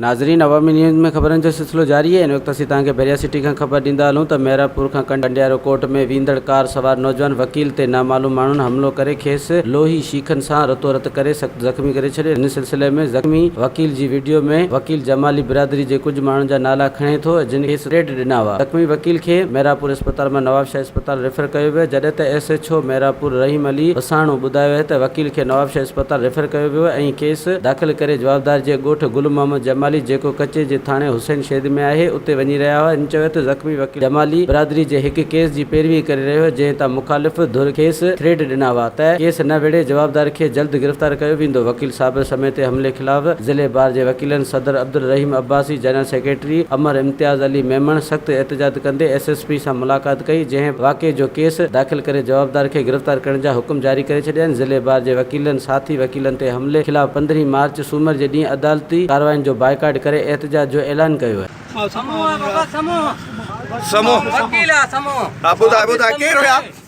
ناظرين عوامي نيوز ۾ خبرن جو سلسلو جاري آهي ان وقت اسين توهان کي بحريا سٽي کان خبر ڏيندا هلون ته مهراپور کان ڪنڊيارو ڪوٽ ۾ ويندڙ ڪار سوار نوجوان وڪيل تي نامعلوم ماڻهن حملو ڪري کيس لوهي شيخن سان رتو رت ڪري سخت زخمي ڪري ڇڏيو ان سلسلي ۾ زخمي وڪيل جي وڊيو ۾ وڪيل جمالي برادري جي ڪجهه ماڻهن جا نالا کڻي ٿو جن کيس ٽريڊ ڏنا هئا زخمي وڪيل کي مهراپور اسپتال مان نوابشاهه اسپتال ريفر ڪيو ويو جڏهن ته S H O Miranpur Rahim Ali Wasano ٻڌايو اهي ته وڪيل کي نوابشاهه اسپتال ريفر ڪيو ويو ۽ ڪيس داخل ڪري جوابدار جي ڳوٺ گل محمد جمالي جيڪو ڪچي جي ٿاڻي حسين شيد ۾ آهي اتي وڃي رهيا هئا هن چيو ته زخمي وڪيل جمالي برادري جي هڪ ڪيس جي پيروي ڪري رهيو هو جنهن تان مخالف ڌر کيس ٿريٽ ڏنا هئا ته ڪيس نه وڙهي جوابدار کي جلد گرفتار ڪيو ويندو وڪيل صابر سميتي حملي خلاف ضلعي بار جي وڪيلن صدر عبدالرحيم عباسي جنرل سيڪريٽري امر امتياز علي ميمڻ سخت احتجاج ڪندي ايس ايس پي سان ملاقات ڪئي جنهن واقعي جو ڪيس داخل ڪري جوابدار کي گرفتار ڪرڻ جا حڪم جاري ڪري ڇڏيا آهن ضلعي بار جي وڪيلن ساٿي وڪيلن تي حملي خلاف پندرهين مارچ سومر جي ڏينهن عدالتي ڪارواين جو بائيڪاٽ ڪري احتجاج جو اعلان ڪيو آهي. سمون وڪيل سمون